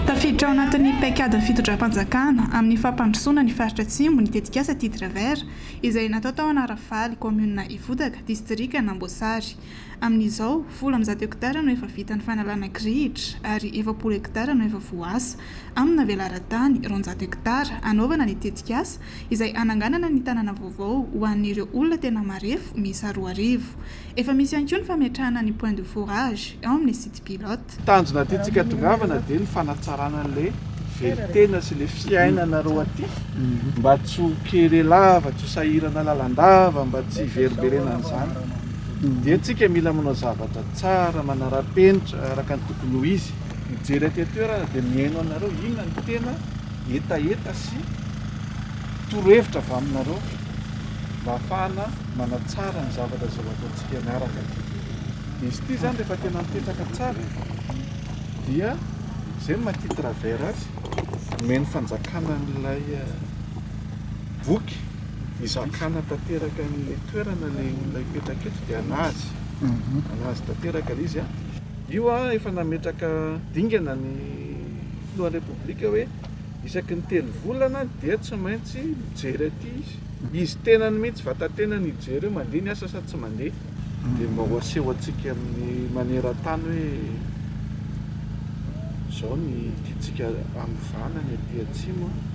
Tafiditra ao anatin'ny paikadin'ny fitondram-panjakana amin'ny fampandrosoana ny faritra Atsimo ny tetikasa Titre Vert izay natao tao Anaravaly, kaominina Ivodaka, distrikan'Amboasary. Amin'izao, folo amby zato hektara no efa vita ny fanalana kirihitra ary efapolo hektara no efa voaasa amina velaran-tany roanjato hektara hanaovana ny tetikasa. izay hananganana ny tanàna vaovao ho an'ireo olona tena marefo miisa roa arivo. Efa misy ihany koa ny fametrahana ny point de forage ao amin'ny site pilote. Tanjona tiantsika hatongavana dia ny fanatsarana an'ilay velon-tena sy ilay fiainanareo aty mba tsy ho kere lava, tsy ho sahirana lalandava, mba tsy hiverimberena an'izany dia tsika mila manao zavatra tsara, manara-penitra araka ny tokony ho izy, mijery aty an-toerana dia mihaino anareo inona no tena hetaheta sy torohevitra avy aminareo mba hahafahana manatsara ny zavatra izay ho ataontsika miaraka ity. Izy ity izany rehefa tena mipetraka tsara dia izay no maty travers azy omen'ny fanjakana an'ilay eh, boky izakana tanteraka an'ilay toerana ilay olona hipetraka eto dia anazy mhm. anazy tanteraka ilay izy a ah. io a ah, efa nametraka dingana ny Filohan'ny Repoblika hoe isaky ny telo volana dia tsy maintsy mijery aty izy. Izy tenany mihitsy, vatan-tenany hijery hoe mandeha ny asa sa tsy mandeha. Dia mba ho asehontsika amin'ny maneran-tany hoe izao ny tiantsika hanovana ny aty Atsimo a.